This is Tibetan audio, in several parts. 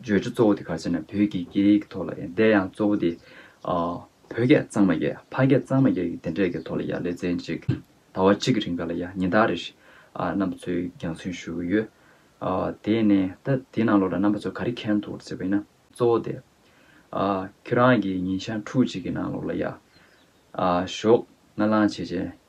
བརྗོད་བྱ་གཙོ་བོ་དེ་ག་ཚོད་ན་བོད་ཀྱི་སྐད་ཡིག་གི་ཐོག་ལ་ཡང་དེ་ཡང་གཙོ་བོ་དེ། བོད་སྐད་གཙང་མ་རྒྱལ་ཕ་སྐད་གཙང་མ་རྒྱལ་གྱི་དེ་འདྲས་ཀྱི་ཐོག་ལ་ཡང་ལེ་ཚན་གཅིག་ཟླ་བ་གཅིག་གི་རིང་ག་ལ་ཡང་ཉིན་ལྟར་རེ་རྣམ་པ་ཚོས་རྒྱང་སྲུང་ཞུ་གི་ཡོད། དེ་ནས་ད་དེའི་ནང་ལོགས་ལ་རྣམ་པ་ཚོ་ག་རེ་མཁྱེན་འདུག་ཟེར་བས་ན་གཙོ་བོ་དེ། ཁྱོད་རང་གིས་ཉིན་ཆ་འཁྲུག་ཅིག་གི་ནང་ལོགས་ལ་ཡ། ཞོགས་སྔ་ལངས་བྱེད་བྱེད།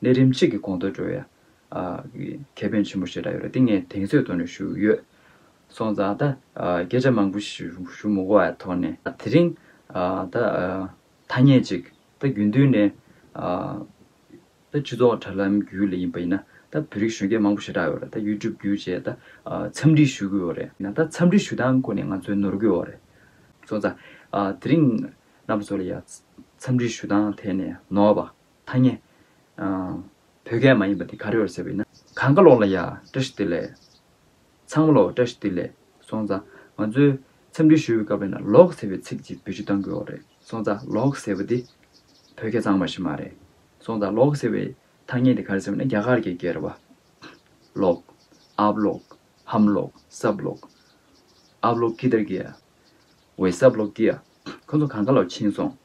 ལས་རིམ་གཅིག་གི་གོང་མཐོ་སྤྲོད་ཡག་གི་ཁེ་ཕན་ཆེན་པོ་ཞེ་དྲག་ཡོད་རེད་དེ་ངས་དེང་ཚོད་དུ་ནས་ཞུ་ཡོད། སོང་ཙང་ད་སྐད་ཆ་མང་པོ་ཞུ་མི་གོ་བའི་ཐོག་ནས། དེ་རིང་ད་ཐ་སྙད་ཅིག་ད་རྒྱུན་མཐུད་ནས། ད་སྤྱི་ཚོགས་དྲ་ལམ་བརྒྱུད་ལས་ཡིན་པ་ཡིན་ན་ད་བོད་རིགས་གཞོན་སྐྱེས་མང་པོ་ཞེ་དྲག་ཡོད་རེད་ད YouTube བརྒྱུད་བཅས་ད་འཚམས་འདྲི་ཞུ་གི་ཡོད་རེད། ཡིན་ན་ད་འཚམས་འདྲི་ཞུ་སྟངས་སྐོར་ནས་ང་ཚོས་ནོར་གི་ཡོད་རེད། སོང་ཙང་དེ་རིང་གནའ་བོ་ཚོ་ལ་ཡང་འཚམས་འདྲི་ཞུ་སྟངས་ཐད་ནས་ནོར་བ། ཐ་སྙད། བོད་སྐད་མ་ཡིན་པ་འདི་ག་རེ་བར་ཟེར་བ་ཡིན་ན། གང་ག་ལོག་ལ་ཡ། བཀྲ་ཤིས་བདེ་ལེགས། ཚང་མ་ལོག་བཀྲ་ཤིས་བདེ་ལེགས། སོང་ཙང། ང་ཚོའི། འཚམས་འདྲི་ཞུ་བའི་སྐབས་ལ་ན་ལོག་ཟེར་བའི་ཚིག་ཅིག་བེད་སྤྱོད་གཏང་དགོས་བ་རེད། སོང་ཙང་ལོག་ཟེར་བ་འདི། བོད་སྐད་གཙང་མ་ཞིག་མ་རེད། སོང་ཙང་ལོག་ཟེར་བའི། ཐ་སྙད་འདི་ག་རེ་ཟེར་བ་ན་རྒྱ་གར་གྱི་སྐད་རེད་བ། ལོག། ཨབ་ལོག། ཧམ་ལོག། སབ་ལོག། ཨབ་ལོག་ཀི་དར་གི་ཡ། ཝེ་སབ་ལོག་ཀི་ཡ། ཁོ་ཚོ་གང་ག་ལ་ཕྱིན་སོང།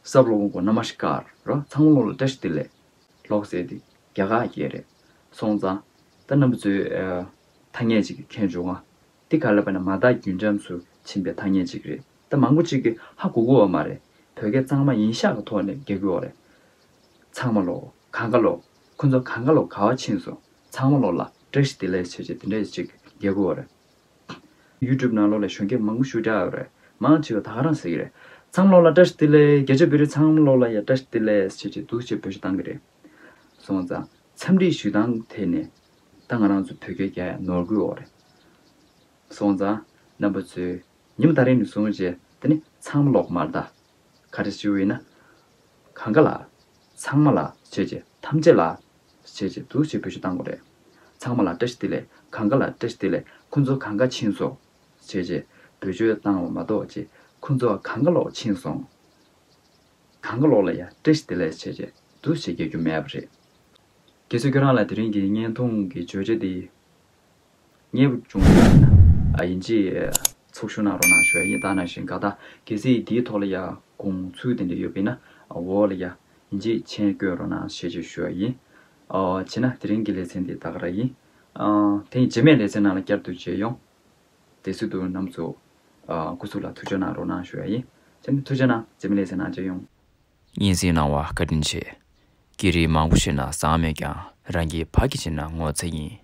སབ་ལོང་གོ་ན་མ་ཤི་ཀ་ར་ཚང་མ་ལོག་ལ་བཀྲ་ཤི་ཏི་ལེ། ལོག་ཟེར་ཏི་རྒྱ་ག་རྒྱལ་རེད་སོང་ཙང་ད་ནམ་པ་ཚོའི་ཐ་སྙད་ཅིག་མཁྱེན་བྱུང་ང་ཏི་ག་ལ་པ་ན་མ་དག་རྒྱུན་འབྱམས་སུ་ཕྱིན་པའི་ཐ་སྙད་ཅིག་རེད་ད་མང་པོ་ཅིག་གི་ཧ་གོ་གོ་བ་མ་རེད་བོད་སྐད་གཙང་མ་ཡིན་ཤག་གི་ཐོག་ནས་རྒྱག་གི་འོ་རེད་ཚང་མ་ལོག་གང་ག་ལོག་ཁོ་ཚོ་གང་ག་ལོག་ག་བ་ཕྱིན་སོང་ཚང་མ་ལོག་ལ་བཀྲ་ཤི་ཏི་ལེ་བྱེད་བྱེད་དེ་འདྲ་ཅིག་རྒྱག་གི་འོ་རེད། YouTube ནང་ལོག་ལས་གཞོན་སྐྱེས་མང་པོ་ཞུགས་རྒྱག་ཡོད་རེད། མང་ཆེ་བ་ད་ཧ་རང་ཟེར་གྱི་རེད། ཚང་ལོག་ལ་བཀྲ་ཤིས་བདེ་ལེགས་རྒྱལ་ཆེ་བོད་རིགས་ཚང་ལོག་ལ་ཡ་བཀྲ་ཤིས་བདེ་ལེགས་བྱེད་ཀྱི་འདུག་ཅེས་འབོད་ཤུགས་བཏང་གི་རེད། སོང་ཙང། འཚམས་འདྲི་ཞུས་སྟངས་ཐད་ནས། ད་ང་རང་ཚོ་བོད་སྐད་རྒྱ་ཡག་ནོར་དགོས་འོག་རེད། སོང་ཙང། རྣམ་པ་ཚོས། ཉི་མ་ད་རིང་ནས་བཟུང་རྗེས་དེ་ནི་ཚང་མ་ལོག་མར་བལྟ། ག་རེ་ཞུ་འི་ན། གང་ག་ལ། ཚང་མ་ལ་བྱས་རྗེས་ཐམས་ཅད་ལ། བྱས་རྗེས་འདུག་ཞེས་བོད་གཞུ་བཏང་བ་རེད། ཚང་མ་ལ་བཀྲ་ཤིས་བདེ་ལེགས་གང་ག་ལ་བཀྲ་ཤིས་བདེ་ལེགས་ཁོ་ཚོ་གང་ག་ཕྱིན་སོང། བྱས་རྗེས་བོད་གཞུ་བཏང་བ་མ་གཏོགས་རྗེས་ཁོ་ཚོ་གང་ག་ལོག་ཕྱིན་སོང། གང་ག་ལོག་ལ་ཡང་བཀྲ་ཤིས་བདེ་ལེགས་བྱས་རྗེས་འདུག་ཞེས་རྒྱག་རྒྱུ་མེད་པ་རེད། དགེ་བཤེས་ཁྱོད་རང་ལ་དེ་རིང་གི་བརྙན་ཐུང་གི་བརྗོད་བྱ་འདི། མཉེས་པོ་འབྱུང་ན་ཡིན། ཡིན་གྱི། ཚོགས་ཞུགས་གནང་རོགས་གནང་ཞུ་བ་ཡིན་ད་ནང་བཞིན་ག་ད་གལ་སྲིད་འདིའི་ཐོག་ལ་ཡ་དགོངས་ཚུལ་དེ་འདྲ་ཡོད་པས་ན་འོག་ལ་ཡ། ཡིན་གྱི་མཆན་བཀོད་རོགས་གནང་ཞེས་བཅས་ཞུ་བ་ཡིན། བྱས་ན་དེ་རིང་གི་ལེ་ཚན་འདི་ད་ག་ར་ཡིན། དེ་ཡིན་རྗེས་མའི་ལེ་ཚན་ནང་ལ་བསྐྱར་དུ་མཇལ་ཡོང། དེ་སྲིད་དུ་ནམ་ཚོ། སྐུ་གཟུགས་ལ་ཐུགས་ཆོས་གནང་རོགས་གནང་ཞུ་བ་ཡིན། བྱས་ན་ཐུགས་ཆོས་གནང་རྗེས་མའི་ལེ་ཚན་ནང་མཇལ་ཡོང། སྙན་གསེང་གནང་བ་བཀའ་དྲིན་ཆེ། སྐད་རིགས་མང་པོ་ཤེས་ན་བཟང་མོད་ཀྱང་རང་གི་བག་གི་བྱེད་ན་ངོ་ཚ་ཡིན།